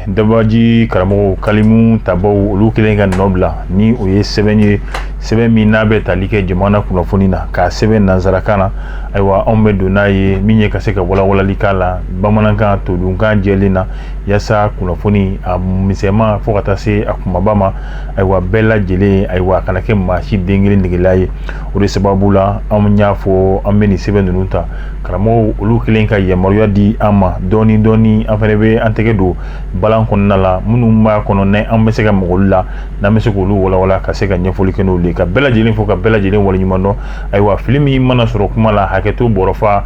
dabaji karamɔgɔw kalimu tabaw olu kelen ka nɔ bila ni o ye sɛbɛn ye sɛbɛn min n'a bɛ tali kɛ jamana kunnafoni na k'a sɛbɛn nanzarakan na ayiwa anw bɛ don n'a ye min ye ka se ka walawalali k'a la bamanankan todunkan jɛlen na yaasa kunnafoni a misɛnma fo ka taa se a kumaba ma ayiwa bɛɛ lajɛlen ayiwa a kana kɛ maa si den kelen negela ye o de sababu la an y'a fɔ an bɛ nin sɛbɛn ninnu ta karamɔgɔw olu kelen ka yamaruya di an ma dɔɔni dɔɔni an fana bɛ an tɛgɛ don balan kɔnɔna la minnu b'a kɔnɔ n'an bɛ se ka mɔgɔlu la n'an bɛ se k'olu walawala ka se ka ɲɛfɔli kɛ n'olu ye ka bɛɛ lajɛlen fo ka bɛɛ lajɛlen waleɲuman dɔn ayiwa fili min mana sɔrɔ kuma la hakɛto bɔrɔ fa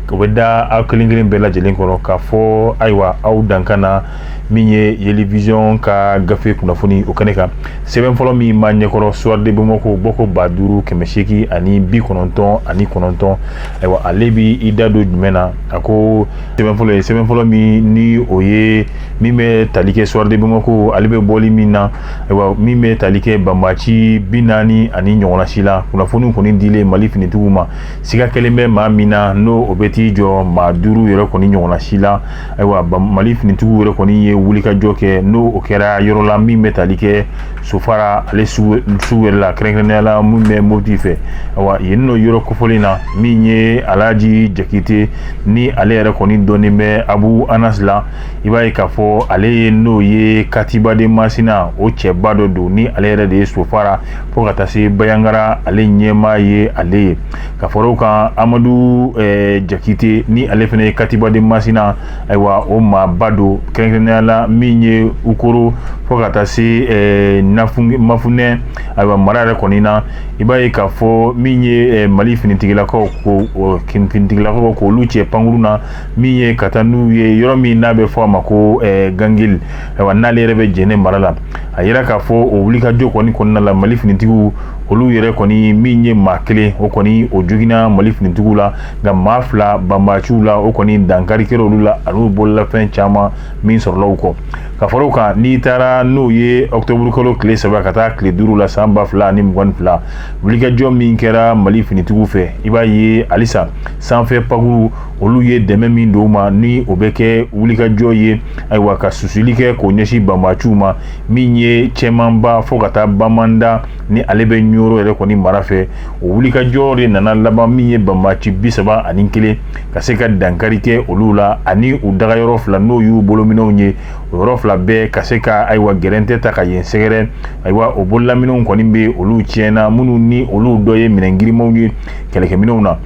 O bɛ da aw kelen kelen bɛɛ lajɛlen kɔrɔ k'a fɔ ayiwa aw dankan na min ye yelivision ka gafe kunnafoni o kɛnɛ kan sɛbɛn fɔlɔ min b'an ɲɛkɔrɔ soir de bamako bɔko ba duuru kɛmɛ seegin ani bi kɔnɔntɔn ani kɔnɔntɔn ayiwa ale bɛ i da don jumɛn na a ko sɛbɛn fɔlɔ ye sɛbɛn fɔlɔ min ni o ye min bɛ tali kɛ soir de bamako ale bɛ bɔli min na ayiwa min bɛ tali kɛ banbaci bi naani ani ɲɔgɔnna si la kunnafoni kɔni dilen mali finitigiw ma siga kɛlen bɛ maa min na n'o o bɛ t'i jɔ maa duuru yɛrɛ kɔni ɲɔgɔnna si la ayiwa mali finitigiw yɛrɛ kɔni ye wulikajɔ kɛ n'o o kɛra yɔrɔ la min bɛ tali kɛ sofara ale sugu yɛrɛ la kɛrɛnkɛrɛnnenya la min bɛ moti fɛ ayiwa yen n'o yɔrɔ kofɔlen na min ye alaji jakite ni ale yɛrɛ kɔni dɔnnen bɛ abu anas la i b'a ye k'a fɔ ale ye n'o ye katiba de masina o cɛba dɔ don ni ale yɛrɛ de ye sofara fo ka taa se bayangara ale ɲɛmaa ye ale ye ka fara o kan amadu eh, jakite ni ale fana ye katiba de masina ayiwa o maaba don kɛrɛnkɛrɛnnenya la min ye ukoro fo ka taa se eh, mafunɛ ayiwa mara yɛrɛ kɔni na i b'a ye k'a fɔ min ye eh, mali finitigilakaw ko finitigilakaw k'olu cɛ pankuru na min ye ka taa n'u ye yɔrɔ min n'a bɛ fɔ a ma ko gangili ayiwa n'ale yɛrɛ bɛ jɛnɛ mara la a yira k'a fɔ o wulikajɔ kɔni kɔnɔna la mali finitigiw olu yɛrɛ kɔni min ye maa kelen o kɔni o joginna mali finitigiw la nka maa fila banbaciw la o kɔni dankari kɛra olu la ani u bololafɛn caman min sɔrɔla u kɔ ka fara o kan n'i taara n'o ye ɔkutɔburukalo tile saba ka taa tile duuru la san ba fila ani mugan ni fila wulikajɔ min kɛra mali finitigiw fɛ i b'a ye halisa sanfɛ pankuru olu ye dɛmɛ min don ma ni o bɛ kɛ wulikajɔ ye ayiwa ka susuli kɛ k'o ɲɛsin banbaciw ma min ye cɛmanba fo ka taa bamanda ni ale bɛ ɲoro yɛrɛ kɔni mara fɛ o wulikajɔ de nana laban min ye banbaci bi saba ani kelen ka se ka dankari kɛ olu la ani u dagayɔrɔ fila n'o y'u bolominɛnw ye o yɔrɔ fila bɛɛ ka se ka ayiwa gɛrɛntɛ ta ka yen sɛgɛrɛ ayiwa o bololaminɛnw kɔni bɛ olu tiɲɛna minnu ni olu dɔ ye minɛn girinmanw ye kɛlɛkɛminɛnw na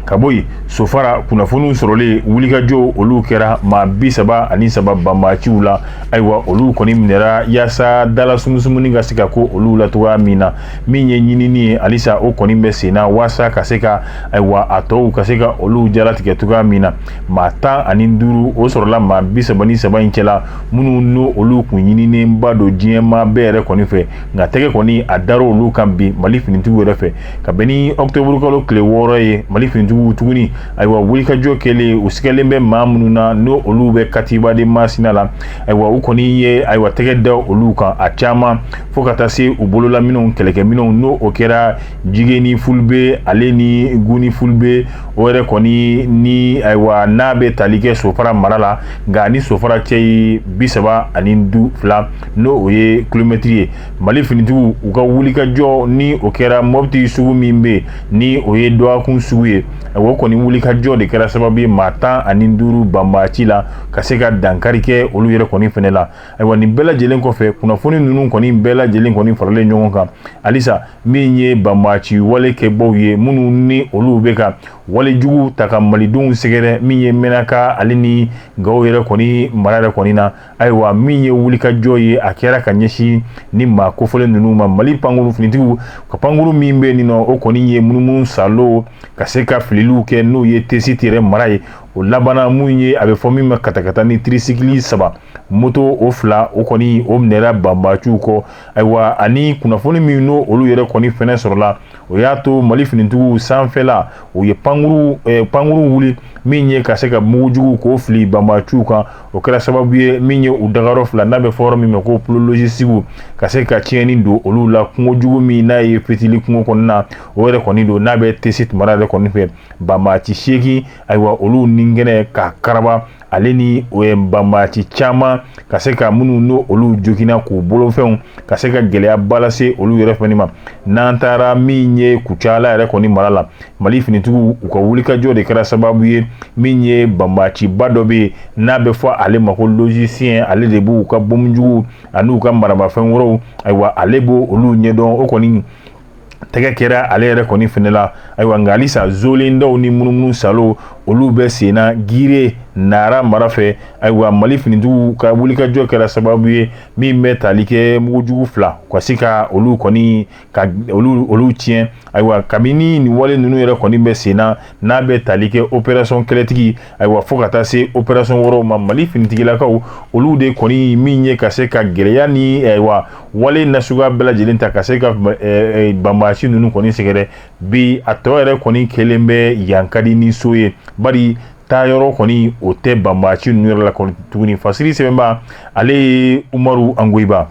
ka bɔ yen sofara kunnafoniw sɔrɔlen wulikajɔ olu kɛra maa bi saba ani saba banbaciw la ayiwa olu kɔni minɛra yaasa dala sumusumuni ka se ka ko olu la cogoya min na min ye ɲinini ye halisa o kɔni bɛ senna waasa ka se ka ayiwa a tɔw ka se ka olu jalatigɛ cogoya min na maa tan ani duuru o sɔrɔla maa bi saba ni saba in cɛla minnu n'o olu kun ɲininenba don diɲɛmaa bɛɛ yɛrɛ kɔni fɛ nka tɛgɛ kɔni a dar'olu kan bi mali finitigiw yɛrɛ fɛ ka bɛn ni ɔkutɛburukalo tile wɔɔrɔ ye mali finitigiw tuguni ayiwa wulikajɔ kɛlen u sigalen bɛ maa minnu na n'o olu bɛ katiba de masina la ayiwa u kɔni ye ayiwa tɛgɛ da olu kan a caman fo ka taa se u bololaminɛnw kɛlɛkɛminɛnw n'o o kɛra jigeni fulbe ale ni guni fulbe o yɛrɛ kɔni ni ayiwa n'a bɛ tali kɛ sofara mara la nka ni sofara cɛ ye bi saba ani du fila n'o o ye kilomɛtiri ye Mali finitigiw u ka wulikajɔ ni o kɛra mɔpti sugu min bɛ ni o ye dɔgɔkun sugu ye o kɔni wulikajɔ de kɛra sababu ye maa tan ani duuru banbaci la ka se ka dankari kɛ olu yɛrɛ kɔni fɛnɛ la ayiwa nin bɛɛ lajɛlen kɔfɛ kunnafoni ninnu kɔni bɛɛ lajɛlen kɔni faralen ɲɔgɔn kan halisa min ye banbaci wale kɛbaw ye minnu ni olu bɛ ka walejugu ta ka malidenw sɛgɛrɛ min ye menaka ale ni gawo yɛrɛ kɔni mara yɛrɛ kɔni na ayiwa min ye wulikajɔ ye a kɛra ka ɲɛsin ni maa kofɔlen ninnu ma mali pankuru finitigiw ka pankuru min bɛ nin nɔ o kɔni ye munumunu salo ka se ka fililiw kɛ n'o ye tesiti yɛrɛ mara ye o labanna min ye a bɛ fɔ min ma katakata ni tirisikili saba moto o fila o kɔni o minɛra banbaciw kɔ ayiwa ani kunnafoni min n'o olu yɛrɛ kɔni fɛnɛ sɔrɔla o y'a to mali finitigiw sanfɛla u ye pankuru eh, pankuru wuli min ye ka se ka mugujugu k'o fili banbaciw kan o kɛra sababu ye min ye u dagayɔrɔ fila n'a bɛ fɔ yɔrɔ min ma ko plo lozisitikiw ka se ka tiɲɛni don olu la kungo jugu min n'a ye fitili kungo kɔnɔna na o yɛrɛ kɔni don n'a bɛ tesiti mara yɛrɛ kɔni fɛ banbaci seegin ayiwa olu ni kɛnɛ ka karaba ale ni banbaci caman ka se ka minnu n'o olu joginna k'u bolofɛnw ka se ka gɛlɛyaba lase olu yɛrɛ fɛnɛ ma n'an taara min ye kucala yɛrɛ kɔni mara la mali finitigiw u ka wulikajɔ de kɛra sababu ye min ye banbaciba dɔ bɛ yen n'a bɛ fɔ ale ma ko lozisiyɛn ale de b'u ka bomjugu an'u ka maramafɛn wɛrɛw ayiwa ale b' olu ɲɛdɔn o kɔni tɛgɛ kɛra ale yɛrɛ kɔni fɛnɛ la ayiwa nka halisa zoolen dɔw ni munumunu saalo olu bɛ senna gire nara mara fɛ ayiwa mali finitigiw ka wulikajɔ kɛra sababu ye min bɛ tali kɛ mugujugu fila ka se ka olu kɔni ka olu olu tiɲɛ ayiwa kabini nin wale ninnu yɛrɛ kɔni bɛ sen na n'a bɛ tali kɛ operasɔn kɛlɛtigi ayiwa fo ka taa se operasɔn wɛrɛw ma mali finitigilakaw olu de kɔni min ye ka se ka gɛlɛya ni ayiwa wale nasuguya bɛɛ lajɛlen ta ka se ka banbaci ninnu kɔni sɛgɛrɛ bi a tɔ yɛrɛ kɔni kɛlen bɛ yan ka di ni so ye bari taa yɔrɔ kɔni o tɛ banbaci ninnu yɛrɛ la kɔni tuguni fasiri sɛbɛnba ale ye umaru angoyiba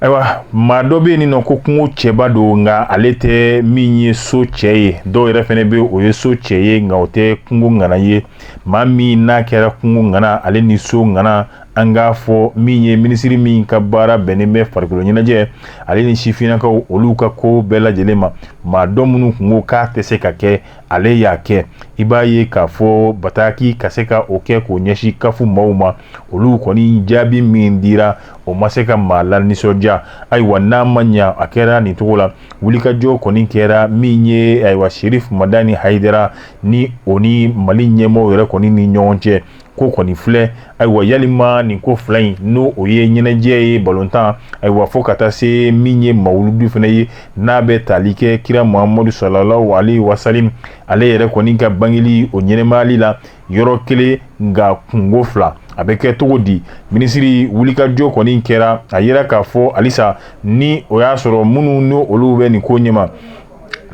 ayiwa maa dɔ bɛ yen n'o ko kungo cɛba don nka ale tɛ min ye so cɛ ye dɔw yɛrɛ fɛnɛ bɛ o ye so cɛ ye nka o tɛ kungo ŋana ye maa min n'a kɛra kungo ŋana ale ni so ŋana an k'a fɔ min ye minisiri min ka baara bɛnnen bɛ farikolo ɲɛnajɛ ale ni sifinnakaw olu ka ko bɛɛ lajɛlen ma maa dɔ minnu kun ko k'a tɛ se ka kɛ ale y'a kɛ i b'a ye k'a fɔ bataki ka se ka o kɛ k'o ɲɛsin kafu maaw ma olu kɔni jaabi min dira o ma se ka maa lanisɔndiya ayiwa n'a ma ɲa a kɛra nin cogo la wulikajɔ kɔni kɛra min ye ayiwa serifu madani hayidara ni o ni mali ɲɛmɔgɔw yɛrɛ kɔni ni ɲɔgɔn cɛ ko kɔni filɛ ayiwa yalima nin ko fila in n'o o ye ɲɛnajɛ ye balontan ayiwa fo ka taa se min ye mawuludu fana ye n'a bɛ tali kɛ kira muhamadu salalahu alayihi wasalam ale yɛrɛ kɔni ka bangeli o ɲɛnamayali la yɔrɔ kelen nka kunko fila a bɛ kɛ cogo di minisiri wulikajɔ kɔni kɛra a yira k'a fɔ halisa ni o y'a sɔrɔ minnu n' olu bɛ nin ko ɲɛma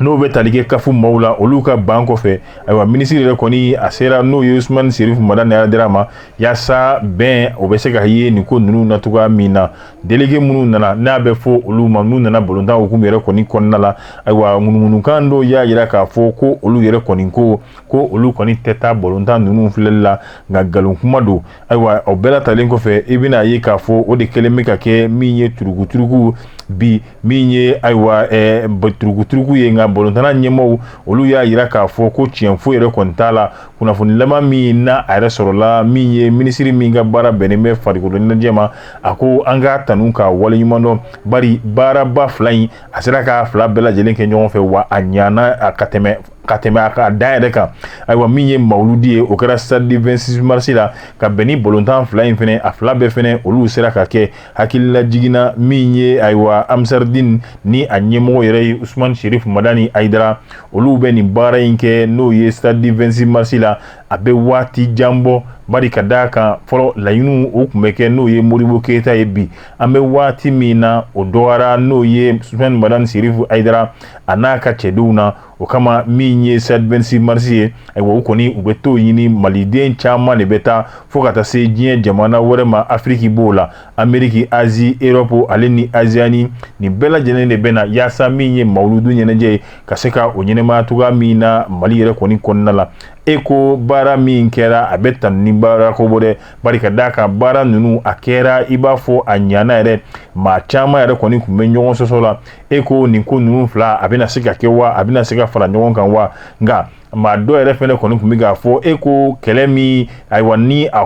n'o bɛ tali kɛ kafu maaw la olu ka ban kɔfɛ ayiwa minisiri yɛrɛ kɔni a sera n'o ye usumani serifu madani hayidara ma yaasa bɛn o bɛ se ka ye nin ko ninnu na cogoya min na delege minnu nana n'a bɛ fɔ olu ma n'u nana balontan hukumu yɛrɛ kɔni kɔnɔna la ayiwa ŋunuŋunukan dɔw y'a yira k'a fɔ ko olu yɛrɛ kɔni ko ko olu kɔni tɛ taa balontan ninnu filɛli la nka nkalon kuma don ayiwa o bɛɛ latalen kɔfɛ i bɛna a ye k'a fɔ o de kɛlen bɛ ka kɛ min ye turukuturuku bi min ye ayiwa eh, turukuturuku ye nka balontana ɲɛmɔgɔw olu y'a yira k'a fɔ ko tiɲɛ foyi yɛrɛ kɔni t'a la kunnafoni laban min na a yɛrɛ sɔrɔla min ye minisiri min ka baara bɛnnen bɛ farikolo ɲɛnajɛ ma a ko an k'a tanu k'a waleɲuman dɔn bari baaraba fila in a sera k'a fila bɛɛ lajɛlen kɛ ɲɔgɔn fɛ wa a ɲana ka tɛmɛ ka tɛmɛ a ka da yɛrɛ kan ayiwa min ye mawuludi ye o kɛra stade du 26 mars la ka bɛn ni balontan fila in fɛnɛ a fila bɛɛ fɛnɛ olu sera ka kɛ hakilila jiginna min ye ayiwa ansaridin ni a ɲɛmɔgɔ yɛrɛ ye usumani sherif madani ayidara olu bɛ nin baara in kɛ n'o ye stade du 26 mars la a bɛ waati jan bɔ bari ka d'a kan fɔlɔ la ninnu o tun bɛ kɛ n'o ye modibo keyita ye bi an bɛ waati min na o dɔgɔyara n'o ye usumani madani sherif ayidara a n'a ka cɛdenw na o kama min ye stade 26 mars ye ayiwa o kɔni u bɛ t'o ɲini maliden caman de bɛ taa fo ka taa se diɲɛ jamana wɛrɛ ma afiriki b'o la ameriki azi erɔpu ale ni oseyani nin bɛɛ lajɛlen de bɛ na yaasa min ye mawuludu ɲɛnajɛ ye ka se ka o ɲɛnamaya cogoya min na mali yɛrɛ kɔni kɔnɔna la e ko baara min kɛra a bɛ tanu ni bara ko bɔ dɛ bari ka d'a kan baara ninnu a kɛra i b'a fɔ a ɲana yɛrɛ maa caman yɛrɛ kɔni tun bɛ ɲɔgɔn sɔsɔ la e ko nin ko ninnu fila a bɛna se ka kɛ wa a bɛna se ka fara ɲɔgɔn kan wa nka maa dɔ yɛrɛ fɛnɛ kɔni tun bɛ k'a fɔ e ko kɛlɛ min ayiwa ni a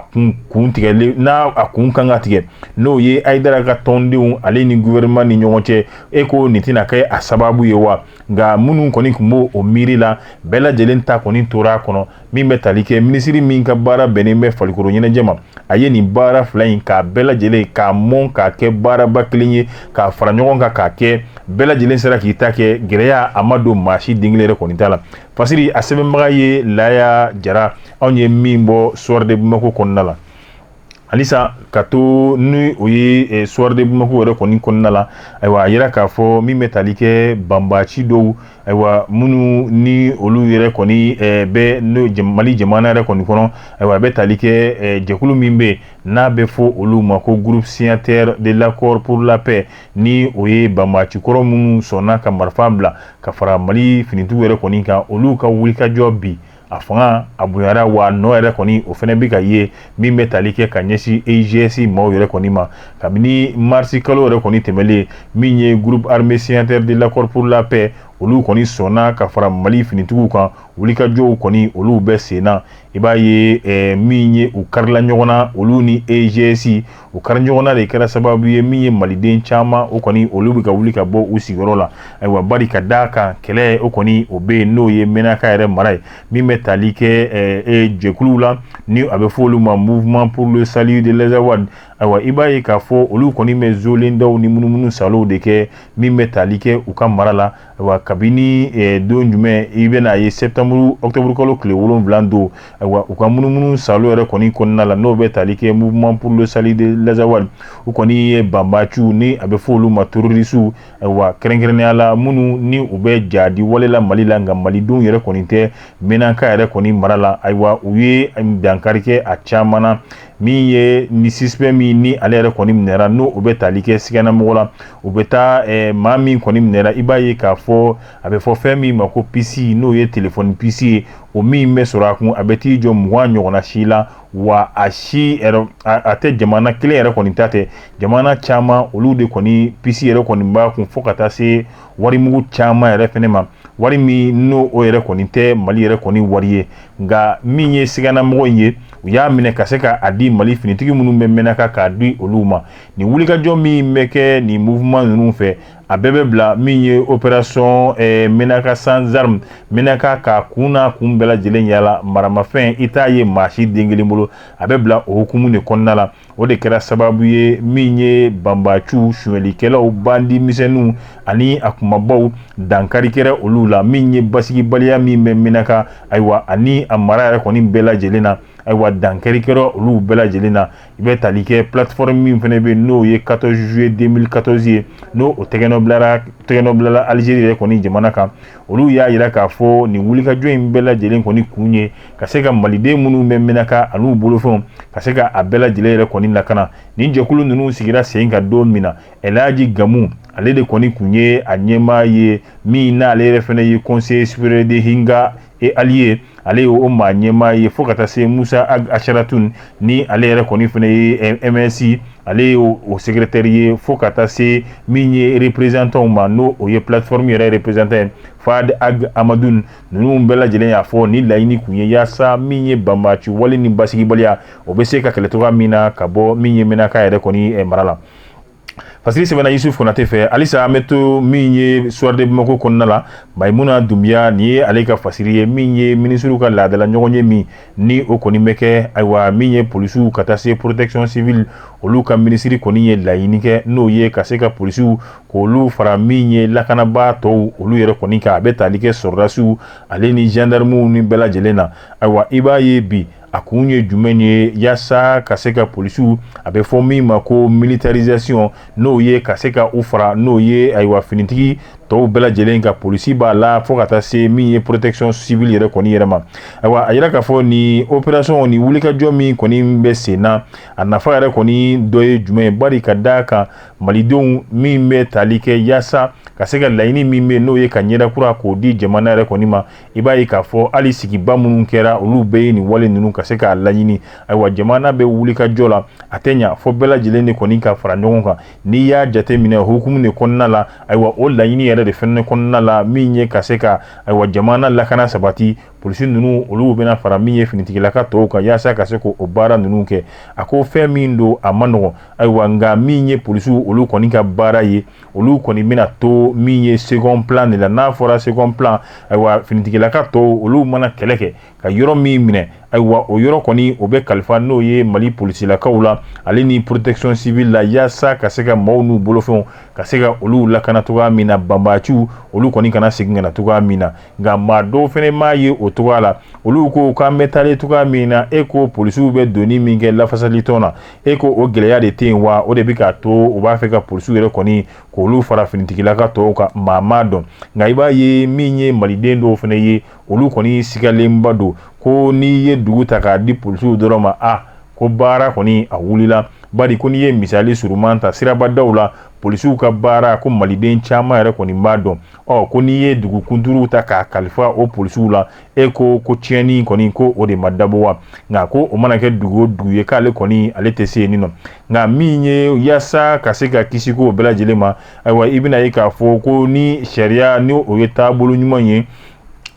kun tigɛlen n'a a kun kan ka tigɛ n'o ye ayidara ka tɔndenw ale ni gouvernement ni ɲɔgɔn cɛ e ko nin tɛna kɛ a sababu ye wa nka minnu kɔni tun b'o o miiri la bɛɛ lajɛlen ta kɔni tora a kɔnɔ min bɛ tali kɛ minisiri min ka baara bɛnnen bɛ farikolo ɲɛnajɛ ma a ye nin baara fila in k'a bɛɛ lajɛlen k'a mɔn k'a kɛ baaraba kelen ye k'a fara ɲɔgɔn kan k'a kɛ bɛɛ lajɛlen sera k'i ta kɛ gɛlɛya a ma don maa si den kelen yɛrɛ kɔni ta la fasiri a sɛbɛnbaga ye laya jara anw ye min bɔ soir de bamako kɔnɔna la halisa ka to ni o ye eh, soir de Bamako yɛrɛ kɔni kɔnɔna la ayiwa a yira k'a fɔ min bɛ tali kɛ banbaaci dɔw ayiwa minnu ni olu yɛrɛ kɔni eh, bɛ n'o Mali jamana yɛrɛ kɔni kɔnɔ ayiwa a bɛ tali kɛ eh, jɛkulu min bɛ n'a bɛ fɔ olu ma ko groupe signataire de l'accord pour la paix ni o ye banbaaci kɔrɔ minnu sɔnna ka marifa bila ka fara Mali finitigiw yɛrɛ kɔni kan olu ka wulikajɔ bi a fanga a bonyara wa nɔ yɛrɛ kɔni o fɛnɛ bɛ ka ye min bɛ tali kɛ ka ɲɛsin eigs maaw yɛrɛ kɔni ma kabini marisi kalo yɛrɛ kɔni tɛmɛlen min ye groupe armé signataire de l'accord pour la paix olu kɔni sɔnna ka fara mali finitigiw kan wulikajɔw kɔni olu bɛ senna i b'a ye eh, min ye u karila ɲɔgɔn na olu ni eigs o kari ɲɔgɔnna de kɛra sababu ye min ye maliden caman o kɔni olu bɛ ka wuli ka bɔ u sigiyɔrɔ la ayiwa bari ka d'a kan kɛlɛ o kɔni o bɛ yen n'o ye mɛnaka yɛrɛ mara ye min bɛ tali kɛ eh, eh, jɛkuluw la ni a bɛ fɔ olu ma mouvement pour le salut de l'Azawad ayiwa i b'a ye k'a fɔ olu kɔni bɛ zolen dɔw ni munumunu salow de kɛ min bɛ tali kɛ u ka mara la wa kabini eh, don jumɛn i bɛna a ye septembre octobre kalo tile wolonwula don wa u ka munumunu salo yɛrɛ kɔni kɔnɔna la n'o bɛ tali kɛ mouvement pour le salut de l'azawad u kɔni ye banbaciw ni a bɛ fɔ olu ma terrorisiw wa kɛrɛnkɛrɛnnenya la minnu ni u bɛ jadi wale la mali la nka malidenw yɛrɛ kɔni tɛ menaka yɛrɛ kɔni mara la ayiwa u ye dankari kɛ a caman na min ye ni suspect min ni ale yɛrɛ kɔni minɛra n'o o bɛ tali kɛ siganamɔgɔ la o bɛ taa eh, maa min kɔni minɛra i b'a ye k'a fɔ a bɛ fɔ fɛn min ma ko pisi n'o ye telefɔni pisi ye o min bɛ sɔrɔ a kun a bɛ t'i jɔ mugan ɲɔgɔnna si la wa a si yɛrɛ a tɛ jamana kelen yɛrɛ kɔni ta tɛ jamana caman olu de kɔni pisi yɛrɛ kɔni b'a kun fo ka taa se warimugu caman yɛrɛ fɛnɛ ma wari min n'o o yɛrɛ kɔni tɛ mali yɛrɛ kɔni wari ye nka min ye siganamɔgɔ in ye u y'a minɛ ka se k'a di mali finitigi minnu bɛ menaka k'a di olu ma nin wulikajɔ min bɛ kɛ nin mouvement ninnu fɛ a bɛɛ bɛ bila min ye opération eh, menaka sans arme menaka k'a kun n'a kun bɛɛ lajɛlen yala maramafɛn i t'a ye maa si den kelen bolo a bɛ bila o hukumu de kɔnɔna la o de kɛra sababu ye min ye banbaciw suɲɛlikɛlaw bandi misɛnninw ani a kunbabaw dankari kɛra olu la min ye basigibaliya min bɛ menaka ayiwa ani a mara yɛrɛ kɔni bɛɛ lajɛlen na ayiwa dankari kɛra olu bɛɛ lajɛlen na i bɛ tali kɛ plateforme min fɛnɛ bɛ n'o ye quatorze juillet deux mille quatorze ye n'o o tɛgɛnɔbila tɛgɛnɔ bilala algérie yɛrɛ kɔni jamana kan olu y'a yira k'a fɔ nin wulikajɔ in bɛɛ lajɛlen kɔni kun ye ka se ka maliden minnu bɛ menaka an'u bolofɛnw ka se ka a bɛɛ lajɛlen yɛrɛ kɔni lakana nin jɛkulu ninnu sigira sen kan don min na el hadji gamu ale de kɔni kun ye a ɲɛmaa ye min n'ale yɛrɛ fɛnɛ ye conseil supérieur des imghad et alliés ale y'o maa ɲɛmaa ye fo ka taa se musa ag asharatun ni ale yɛrɛ kɔni fɛnɛ ye msi ale ye o secrétaire ye fo ka taa se min ye représentantw ma n'o o ye plateforme yɛrɛ représentant ye fad ag amadu ninnu bɛɛ lajɛlen y'a fɔ ni laɲini kun ye yaasa min ye banbaci wale ni basigibaliya o bɛ se ka kɛlɛ cogoya min na ka bɔ min ye menaka yɛrɛ kɔni eh, mara la fasiri sɛbɛnna yusuf konate fɛ halisa an bɛ to min ye soir de bamako kɔnɔna la mayimuna dunbiya nin ye ale ka fasiri ye min ye minisiriw ka laadala ɲɔgɔnye min ni o kɔni bɛ kɛ ayiwa min ye polisiw ka taa se protection civile olu ka minisiri kɔni ye laɲini kɛ n'o ye ka se ka polisiw k'olu fara min ye lakanabaa tɔw olu yɛrɛ kɔni kan a bɛ tali kɛ sɔrɔdasiw ale ni gendarmew ni bɛɛ lajɛlen na ayiwa i b'a ye bi a kun ye jumɛn ye yaasa ka se ka polisiw a bɛ fɔ min ma ko militarisation n'o ye ka se ka u fara n'o ye ayiwa finitigi tɔw bɛɛ lajɛlen kan polisi b'a la fo ka taa se min ye protection civile yɛrɛ kɔni yɛrɛ ma ayiwa a yira k'a fɔ nin opération ni wulikajɔ min kɔni bɛ sen na a nafa yɛrɛ kɔni dɔ ye jumɛn ye bari ka da a kan malidenw min bɛ tali kɛ yaasa ka se ka laɲini min bɛ n'o ye ka ɲɛda kura k'o di jamana yɛrɛ kɔni ma i b'a ye k'a fɔ hali sigiba minnu kɛra olu bɛɛ ye nin wale ninnu ka se k'a laɲini ayiwa jamana bɛ wulikajɔ la a tɛ ɲɛ fɔ bɛɛ lajɛlen de kɔni ka fara ɲɔgɔn kan n'i y'a jateminɛ hukumu de kɔnɔna la ayiwa o laɲini yɛrɛ de fɛnɛ kɔnɔna la min ye ka se ka ayiwa jamana lakana sabati polisi ninnu olu bɛna fara min ye finitigilaka tɔw kan yaasa ka se k'o baara ninnu kɛ a ko fɛn min don a ma nɔgɔ ayiwa nka min ye polisiw olu kɔni ka baara ye olu kɔni bɛna to min ye second plan de la n'a fɔra second plan ayiwa finitigilaka tɔw olu mana kɛlɛ kɛ ka yɔrɔ min minɛ ayiwa o yɔrɔ kɔni o bɛ kalifa n'o ye mali polisilakaw la ale ni protection civile la yaasa ka se ka maaw n'u bolofɛnw ka se ka olu lakana cogoya min na banbaciw olu kɔni kana segin ka na cogoya min na nka maa dɔw fɛnɛ m'a ye o cogoya la olu ko k'an bɛ taalen cogoya min na e ko polisiw bɛ donni min kɛ lafasalitɔn na e ko o gɛlɛya de tɛ yen wa o de bɛ k'a to u b'a fɛ ka polisiw yɛrɛ kɔni k'olu fara finitigilaka tɔw kan maa m'a dɔn nka i b'a ye min ye maliden dɔw fɛnɛ ye olu kɔni sigalenba don ko n'i ye dugu ta k'a di polisiw dɔrɔn ma a ko baara kɔni a wulila bari ko n'i ye misali suruman ta sirabadaw la polisiw ka baara ko maliden caman yɛrɛ kɔni b'a dɔn ɔ ko n'i ye dugu kunturuw ta k'a kalifa o polisiw la e ko ko tiɲɛni kɔni ko o de ma dabɔ wa nka ko o mana kɛ dugu o dugu ye k'ale kɔni ale tɛ se yen nɔ nka min ye yaasa ka se ka kisi ko bɛɛ lajɛlen ma ayiwa i bɛna ye k'a fɔ ko ni sariya ni o ye taabolo ɲuman ye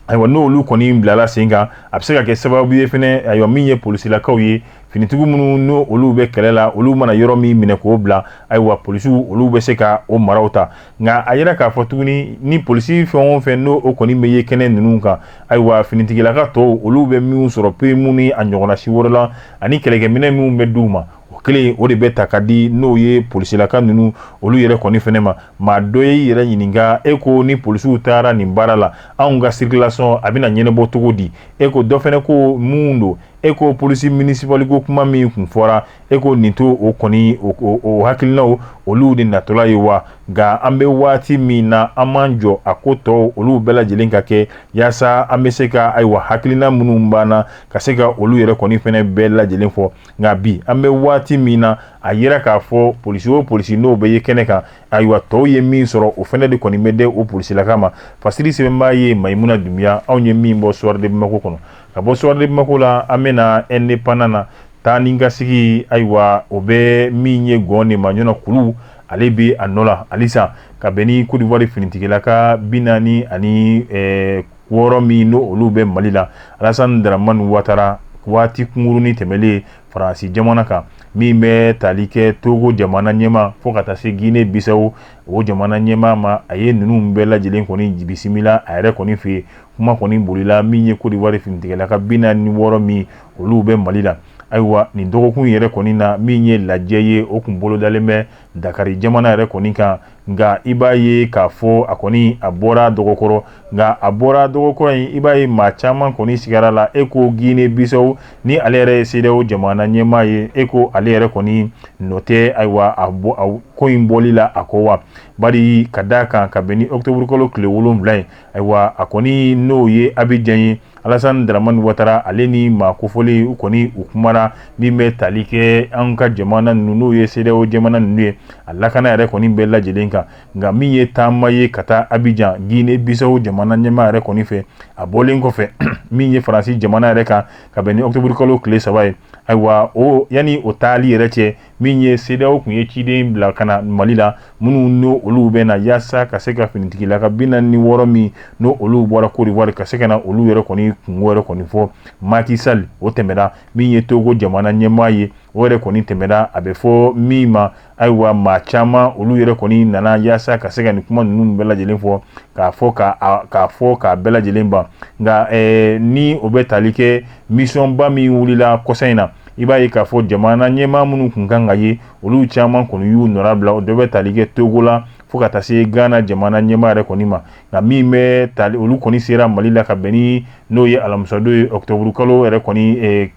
ayiwa n'olu kɔni bilala sen kan a bɛ se ka kɛ sababu ye fɛnɛ ayiwa min ye polisilakaw ye finitigiw minnu n'olu bɛ kɛlɛ la olu mana yɔrɔ min minɛ k'o bila ayiwa polisiw olu bɛ se ka o maraw ta nka a yira k'a fɔ tuguni ni polisi fɛn o fɛn n'o o kɔni bɛ ye kɛnɛ ninnu kan ayiwa finitigilaka tɔw olu bɛ minnu sɔrɔ pirimu ni a ɲɔgɔnna si wɛrɛ la ani kɛlɛkɛminɛ minnu bɛ d'u ma o kelen o de bɛ ta ka di n'o ye polisilaka ninnu olu yɛrɛ kɔni fɛnɛ ma maa dɔ y'i yɛrɛ ɲininka e ko ni polisiw taara nin baara la anw ka sirikilasɔn a bɛna ɲɛnabɔ cogo di e ko dɔ fɛnɛ ko mun don e ko polisi minisipali ko kuma min kun fɔra e ko nin to o kɔni o hakilinaw olu de natɔla ye wa nka an bɛ waati min na an b'an jɔ a ko tɔw olu bɛɛ lajɛlen ka kɛ yaasa an bɛ se ka ayiwa hakilina minnu banna ka se ka olu yɛrɛ kɔni fɛnɛ bɛɛ lajɛlen fɔ nka bi an bɛ waati min na a yira k'a fɔ polisi o polisi n'o bɛ ye kɛnɛ kan ayiwa tɔw ye min sɔrɔ o fɛnɛ de kɔni bɛ di o polisilaka ma fasiri sɛbɛnbaa ye mayimuna dunbiya anw ye min bɔ soir de bamako kɔnɔ Ka bɔ Soir de Bamako la an bɛna Indépendant na taa ni ka sigi ayiwa o bɛ min ye gɔn nin majna kulu ale bɛ a nɔ la halisa ka bɛn ni kodiwari finitigilaka bi naani ni wɔɔrɔ min n'o olu bɛ mali la alasan daraman watara waati kunkurunnin tɛmɛnlen faransi jamana kan min bɛ tali kɛ togo jamana ɲɛmaa fo ka taa se gine bisaw jamana ɲɛmaa ma a ye ninnu bɛɛ lajɛlen kɔni bisimila a yɛrɛ kɔni fɛ yen kuma kɔni bolila min ye kodiwari finitigilaka bi naani ni wɔɔrɔ min olu bɛ mali la ayiwa nin dɔgɔkun yɛrɛ kɔni na min ye lajɛ ye o tun bolodalen bɛ dakari jamana yɛrɛ kɔni kan nka i b'a ye k'a fɔ a kɔni a bɔra dɔgɔkɔrɔ nka a bɔra dɔgɔkɔrɔ in i b'a ye maa caman kɔni sigara a la e ko gine bisaw ni ale yɛrɛ ye sedeyawo jamana ɲɛmaa ye e ko ale yɛrɛ kɔni nɔ tɛ ayiwa a ko in bɔli la a ko wa bari ka da a kan ka bɛn ni ɔtoburukalo tile wolonwula ye ayiwa a kɔni n'o ye abijan ye alasan daraman watara ale ni maa kofɔlen u kɔni u kumara min bɛ tali kɛ an ka jamana ninnu n'o ye sedeyawo jamana ninnu ye a lakana yɛrɛ kɔni bɛɛ lajɛlen kan nka min ye taama ye ka taa abijan gine bisaw jamana ɲɛmaa yɛrɛ kɔni fɛ a bɔlen kɔfɛ min ye faransi jamana yɛrɛ kan ka bɛn ni otoburukalo tile saba ye ayiwa o yanni o taali yɛrɛ cɛ min ye sedeyawo tun ye ciden bila ka na mali la minnu n'o olu bɛ na yaasa ka se ka finitigilaka bi naani ni wɔɔrɔ min n'o olu bɔra kodiwari ka se ka na olu yɛrɛ kɔni kunko yɛrɛ kɔni fɔ maki sali o tɛmɛna min ye togo jamana ɲɛmaa ye o yɛrɛ kɔni tɛmɛna a bɛ fɔ min ma ayiwa maa caman olu yɛrɛ kɔni nana yaasa ka se ka nin kuma ninnu bɛɛ lajɛlen fɔ k'a fɔ k'a bɛɛ lajɛlen ban nka ni o bɛ tali kɛ misiyɔnba min wulila kɔsa in na i b'a ye k'a fɔ jamana ɲɛmaa minnu tun kan ka ye olu caman kɔni y'u nɔrabila o dɔ bɛ tali kɛ togo la fo ka taa se gana jamana ɲɛmaa yɛrɛ kɔni ma nka min bɛ tali olu kɔni sera mali la ka bɛn ni n'o ye alamisadon ye ɔtoburukalo yɛrɛ kɔni eh,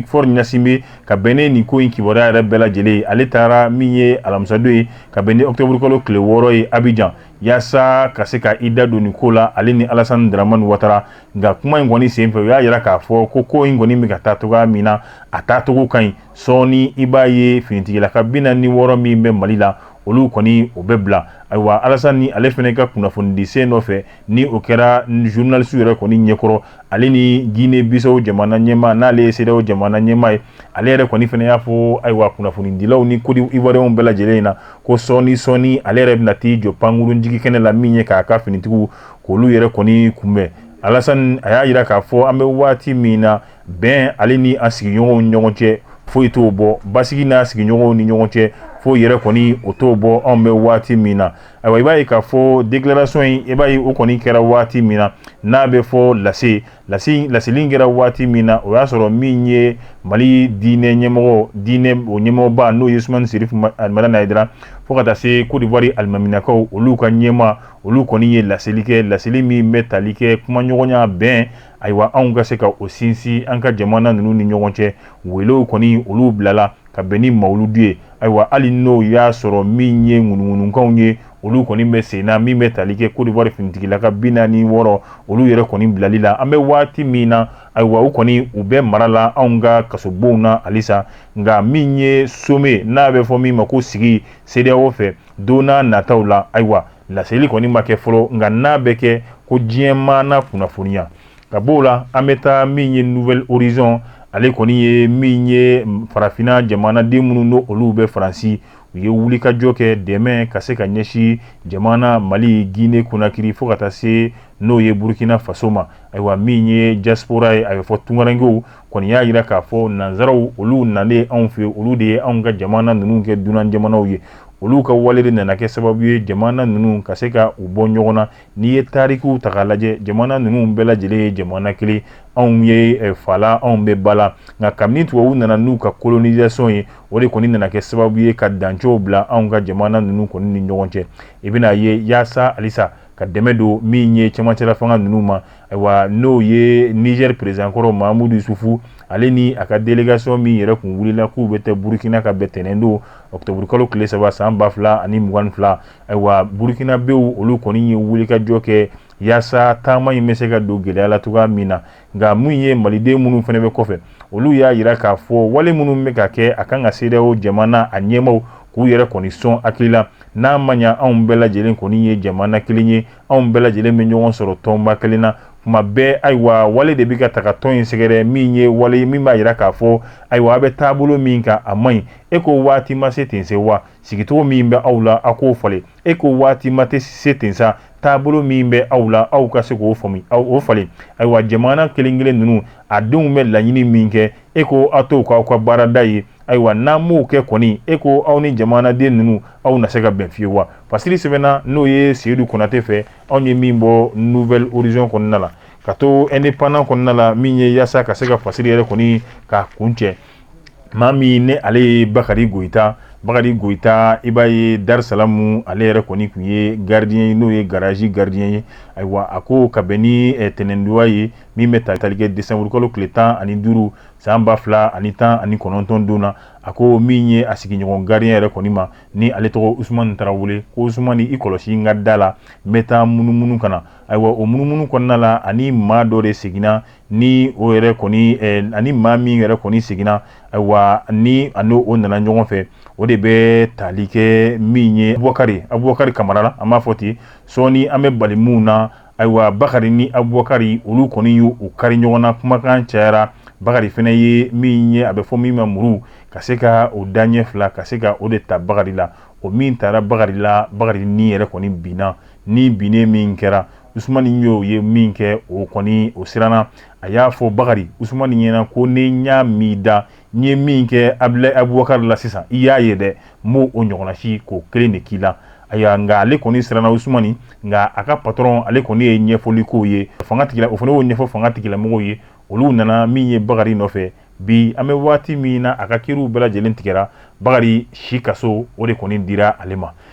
Faure ɲasinbɛ ka bɛn ni nin ko in kibaruya yɛrɛ bɛɛ lajɛlen ye ale taara min ye alamisadon ye ka bɛn ni ɔtoburukalo tile wɔɔrɔ ye abijan yaasa ka se ka i da don nin ko la ale ni alasani daramani watara nka kuma in kɔni senfɛ u y'a jira k'a fɔ ko ko in kɔni bɛ ka taa cogoya min na a taacogo ka ɲi sɔɔni i b'a ye finitigilaka bi naani ni wɔɔrɔ min bɛ mali la olu kɔni o bɛ bila ayiwa alasani ale fana ka kunnafonidi sen nɔfɛ ni o kɛra zurunalisiw yɛrɛ kɔni ɲɛkɔrɔ ale ni gine bisaw jamana ɲɛmaa n'ale ye sedeyawo jamana ɲɛmaa ye ale yɛrɛ kɔni fana y'a fɔ ayiwa kunnafonidilaw ni kodiwariyɛnw bɛɛ lajɛlen ɲɛ na ko sɔɔni sɔɔni ale yɛrɛ bɛna taa i jɔ pankurun jigi kɛnɛ la min ye k'a ka finitigiw olu yɛrɛ kɔni kunbɛn alasan a y'a jira k'a fɔ an bɛ waati min na bɛn ale ni a sigiɲɔgɔnw ɲɔgɔn cɛ foyi t'o bɔ basigi n'a sigiɲɔgɔnw ni ɲɔgɔn cɛ foyi yɛrɛ kɔni o t'o bɔ anw bɛ waati min na ayiwa i b'a ye k'a fɔ déclaration in i b'a ye o kɔni kɛra waati min na n'a bɛ fɔ lase lase laseli kɛra waati min na o y'a sɔrɔ min ye mali diinɛ ɲɛmɔgɔ diinɛ o ɲɛmɔgɔba n'o ye Ousmane Chérif al Madani Haïdara fo ka taa se Côte d'Ivoire alimaminakaw olu ka ɲɛmaa olu kɔni ye laseli kɛ laseli min bɛ tali kɛ kumaɲɔgɔnya bɛn ayiwa anw ka se ka o sinsin an ka jamana ninnu ni ɲɔgɔn cɛ welew kɔni olu bilala ka bɛn ni mawuludu ye ayiwa hali n'o y'a sɔrɔ min ye ŋunuŋunukanw ye olu kɔni bɛ sen na min bɛ tali kɛ Côte d'Ivoire finitigilaka bi naani wɔɔrɔ olu yɛrɛ kɔni bilali la an bɛ waati min na ayiwa u kɔni u bɛ mara la anw ka kasobonw na halisa nka min ye sommet n'a bɛ fɔ min ma ko sigi CEDEAO fɛ don na nataw la ayiwa laseli kɔni ma kɛ fɔlɔ nka n'a bɛ kɛ ko diɲɛ maa na kunnafoniya ka b'o la an bɛ taa min ye Nouvel Horizon ale kɔni ye min ye farafinna jamanaden minnu n'o olu bɛ faransi u ye wulikajɔ kɛ dɛmɛ ka se ka ɲɛsin jamana mali Guinée Conakry fo ka taa se n'o ye burukina faso ma ayiwa min ye diaspora ye a bɛ fɔ tungarankew kɔni y'a jira k'a fɔ nansaraw olu nalen anw fɛ olu de ye anw ka jamana ninnu kɛ dunan jamanaw ye olu ka wale de nana kɛ sababu ye jamana ninnu ka se ka u bɔ ɲɔgɔn na n'i ye tarikiw ta k'a lajɛ jamana ninnu bɛɛ lajɛlen ye jamana kelen anw ye eh, fa la anw bɛ ba la nka kabini tubabuw nana n'u ka colonisation ye o de kɔni nana kɛ sababu ye ka dancɛw bila anw ka jamana ninnu kɔni ni ɲɔgɔn cɛ i bɛn'a ye yaasa halisa ka dɛmɛ don min ye cɛmancɛla fanga ninnu ma Ayiwa n'o ye nizɛri président kɔrɔ Mahamadou Issoufou ale ni a ka délégation min yɛrɛ tun wulila k'u bɛ taa burukina ka bɛn tɛnɛn don octobre kalo tile saba san ba fila ani mugan fila ayiwa burukinabew olu kɔni ye wulikajɔ kɛ yaasa taama in bɛ se ka don gɛlɛya la cogoya min na nka min ye maliden minnu fana bɛ kɔfɛ olu y'a jira k'a fɔ wale minnu bɛ ka kɛ a kan ka CEDEAO jamana a ɲɛmaaw k'u yɛrɛ kɔni sɔn hakili la n'a ma ɲɛ anw bɛɛ lajɛlen kɔni ye jamana kelen ye anw bɛɛ lajɛlen bɛ ɲɔgɔn sɔrɔ tɔnba kelen na kuma bɛɛ ayiwa wale de bɛ ka taga tɔn in sɛgɛrɛ min ye wale ye min b'a jira k'a fɔ ayiwa a bɛ taabolo min kan a man ɲi e ko waati ma se ten sa wa sigicogo min bɛ aw la aw k'o falen e ko waati ma tɛ se ten sa taabolo min bɛ aw la aw ka se k'o faamu aw o falen ayiwa jamana kelen-kelen ninnu a denw bɛ laɲini min kɛ e ko aw t'o k'aw ka baarada ye ayiwa n'an m'o kɛ kɔni e ko aw ni jamanaden ninnu aw na se ka bɛn fiyewu wa fasiri sɛbɛnna n'o ye seyidu konatɛ fɛ anw ye min bɔ nouvel horizon kɔnɔna la ka to indépendant kɔnɔna la min ye yaasa ka se ka fasiri yɛrɛ kɔni k'a kuncɛ maa min ne ale ye bakari goyita bakari goyita i b'a ye darisalamu ale yɛrɛ kɔni tun ye gardien ye n'o ye garazi gardien ye ayiwa a ko ka bɛn ni eh, tɛnɛndonya ye min bɛ tali kɛ desanburukalo tile tan ani duuru san ba fila ani tan ani kɔnɔntɔn don na a ko min ye a sigiɲɔgɔn gardien yɛrɛ kɔni ma ni ale tɔgɔ usumani tarawele ko usumani i kɔlɔsi n ka da la n bɛ taa munumunu ka na ayiwa o munumunu kɔnɔna la ani maa dɔ de seginna ni o yɛrɛ kɔni eh, ani maa min yɛrɛ kɔni seginna ayiwa ni a n'o o nana ɲɔgɔn fɛ o de bɛ tali kɛ min ye abubakari abubakari kamara la an b'a fɔ ten sɔɔni an bɛ bali mun na ayiwa bakari ni abubakari olu kɔni y'u kari ɲɔgɔn na kumakan cayara bakari fana ye min ye a bɛ fɔ min ma muru ka se ka o daɲɛ fila ka se ka o de ta bakari la o min taara bakari la bakari ni yɛrɛ kɔni binna ni binnen min kɛra usumani y'o ye min kɛ o kɔni o siranna a y'a fɔ bakari usumani ɲɛna ko ni n y'a mɛn i da n ye min kɛ abulayi abubakari la sisan i y'a ye dɛ n b'o ɲɔgɔnna si k'o kelen de k'i la ayiwa nka ale kɔni siranna usumani nka a ka patɔrɔn ale kɔni ye ɲɛfɔli k'o ye fanga tigila o fana y'o ɲɛfɔ fanga tigilamɔgɔw ye olu nana min ye bakari nɔfɛ bi an bɛ waati min na a ka kiriw bɛɛ lajɛlen tigɛra bakari si kaso o de kɔni dira ale ma